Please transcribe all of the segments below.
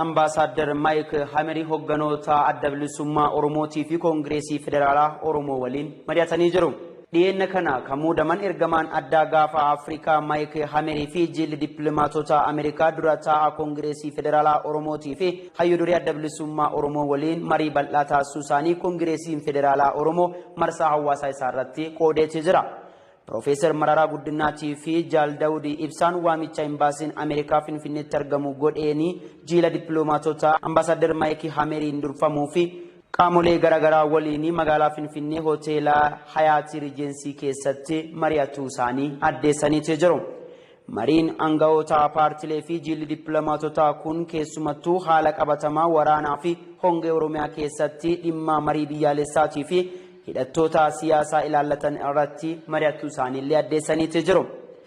Ambaasaaddar Maayik Hameri hogganoota Adda Bilisummaa Oromootii fi Koongireesii Federaalaa Oromoo waliin mari'atanii jiru. Dhiyeenna kana kan muudaman ergamaan addaa Gaafa Afrikaa Maayik Hamerii fi jiilli dippilomaatota Ameerikaa dura taa'aa Koongireesii Federaalaa Oromootii fi hayyu duree Adda Bilisummaa Oromoo waliin marii bal'aa taasisuu isaanii Koongireesiin Federaalaa Oromoo marsaa hawaasaa isaa irratti qoodeetii jira. Pirofeesar Mararaa Guddinnaatii fi Jaal Dawud Ibsaan waamicha Imbaasiin Ameerikaa Finfinneetti argamu godheen jiila dippiloomaatota Ambaasaaddar Maayik Hameriin durfamuu fi qaamolee gara garaa waliin magaalaa Finfinnee Hoteela Hayaatii Rijeensii keessatti mari'atuu isaanii addeessaniiti jiru. Mariin angawoota paartilee fi jiilli dippilomaatotaa kun keessumattuu haala qabatamaa waraanaa fi hongee Oromiyaa keessatti dhimmaa marii biyyaalessaatii fi hidhattoota siyaasaa ilaallatan irratti mari'achuu isaanii illee addeessaniiti jiru.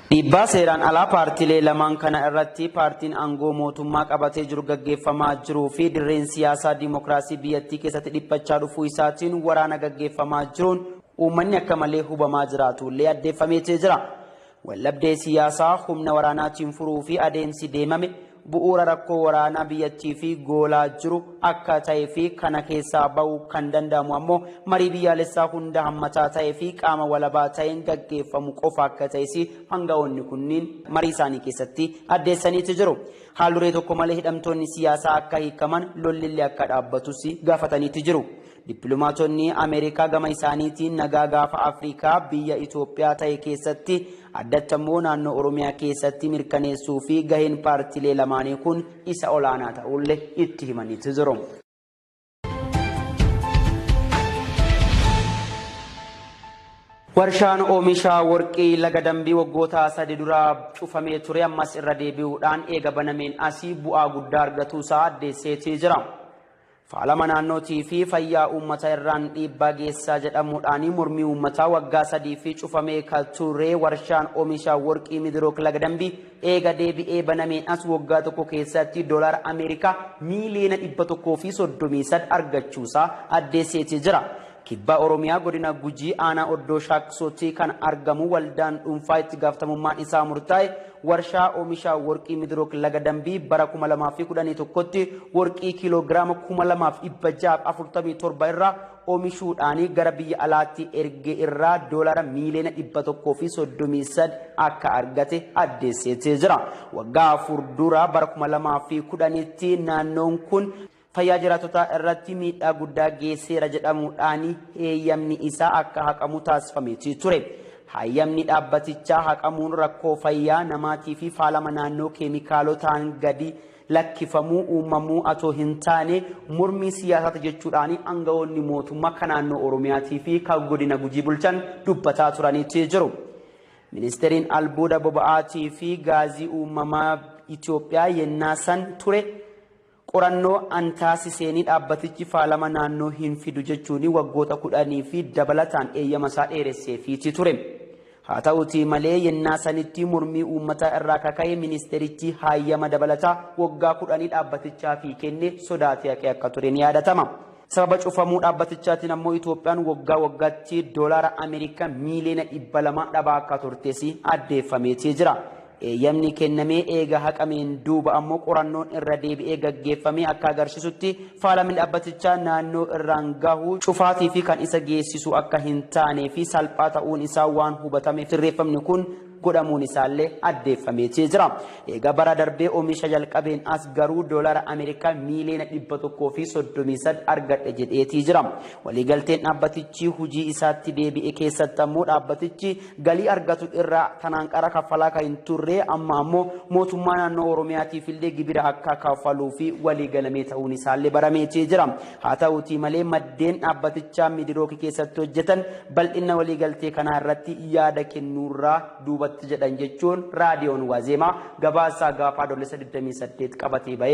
Dhiibbaa seeraan alaa paartilee lamaan kana irratti paartiin aangoo mootummaa qabatee jiru gaggeeffamaa jiruu fi dirreen siyaasaa dimokiraasii biyyattii keessatti dhiphachaa dhufuu isaatiin waraana gaggeeffamaa jiruun uummanni akka malee hubamaa jiraatu illee addeeffameeti jira. Waldhabdee siyaasaa humna waraanaatiin furuu fi adeemsi deemame bu'uura rakkoo waraanaa biyyattii fi goolaa jiru akka ta'ee fi kana keessaa ba'uu kan danda'amu ammoo marii biyyaalessaa hunda hammataa ta'ee fi qaama walabaa ta'een gaggeeffamu qofa akka ta'es aanga'oonni kunniin marii isaanii keessatti addeessaniiti jiru. Haal-duree tokko malee hidhamtoonni siyaasaa akka hiikaman, lolli illee akka dhaabbatus gaafataniiti jiru. Dippilomaatonni Ameerikaa gama isaaniitiin nagaa gaafa Afrikaa biyya Itoophiyaa tahe keessatti addatti ammoo naannoo Oromiyaa keessatti mirkaneessuu fi gaheen paartilee lamaanii kun isa olaanaa ta'uulle itti himaniiti jiru. Warshaan oomisha worqii laga dambii waggoota sadi dura cufamee ture ammas irra deebi'uudhaan eega banameen asii bu'aa guddaa argatuu isaa addeesseetii jira. Faalama naannootii fi fayyaa uummata irraan dhiibbaa geessaa jedhamuudhaani mormii uummataa waggaa sadiifi cufamee ka ture warshaan omisha worqii Midrook Laga Dambii eega deebi'ee banameen as woggaa tokko keessatti dolaara Ameerikaa miiliyoona 133 argachuusaa addeesseeti jira. Kibba Oromiyaa Godina Gujii Aanaa Oddoo Shaakkisootti kan argamu waldaan dhuunfaa itti gaafatamummaan isaa murtaa'e warshaa oomisha worqii Midrook Laga Dambii bara 2011tti worqii kiiloo giraama 2647 irraa oomishuudhaan gara biyya alaatti erge irraa doolaara miiliyoona 133 akka argate addeesseetee jira. Waggaa afur dura bara 2010tti naannoon kun fayyaa jiraatotaa irratti miidhaa guddaa geesseera jedhamuudhaan heeyyamni isaa akka haqamu taasifameeti ture. Hayyamni dhaabbatichaa haqamuun rakkoo fayyaa namaatii fi faalama naannoo keemikaalotaan gadi lakkifamuu uumamuu atoo hin taane mormii siyaasaati jechuudhaan aangawoonni mootummaa kan naannoo Oromiyaatii fi kan godina Gujii bulchan dubbataa turaniiti jiru. Ministeeriin albuuda boba'aatii fi gaazii uumamaa Itoophiyaa yennaa san ture Qorannoo an taasiseenii dhaabbatichi faalama naannoo hin fidu jechuunii waggoota kudhanii fi dabalataan eeyyama isaa dheeresseefiiti ture. Haa ta'uutii malee yennaa sanittii mormii uummataa irraa ka ka'e ministeerichii haayyama dabalataa waggaa kudhanii dhaabbatichaafii kenne sodaatee haqee akka ture ni yaadatama. Sababa cufamuu dhaabbatichaatiin ammoo Itoophiyaan waggaa waggaatti doolaara Ameerikaa miiliyoona dhibba lama dhabaa akka turtes addeeffameetii jira. Eeyyamni kennamee eega haqameen duuba ammoo qorannoon irra deebi'ee gaggeeffamee akka agarsiisutti faalamni dhaabbatichaa naannoo irraan gahu cufaatii fi kan isa geessisu akka hin taanee fi salphaa ta'uun isaa waan hubatameef sirreeffamni kun godhamuun isaallee addeeffameetii jira. Eega bara darbee oomisha jalqabeen as garuu doolara Ameerikaa miiliyoona dhibba tokkoo fi soddomii saddeet argadhe jedheetii jira. Waliigalteen dhaabbatichi hujii isaatti deebi'e keessatti ammoo dhaabbatichi galii argatu irraa tanaan qara kaffalaa kan hin turre amma ammoo mootummaa naannoo Oromiyaatiif illee gibira akka kaffaluu fi waliigalamee ta'uun isaallee barameetii jira. Haa ta'uutii malee maddeen dhaabbatichaa Miidirook keessatti hojjetan bal'inna waliigaltee kanaa irratti yaada kennuurraa duubatti jedhan jechuun Raadiyoon Waazeemaa gabaasaa gaafa Adoolessa 28 qabatee bahe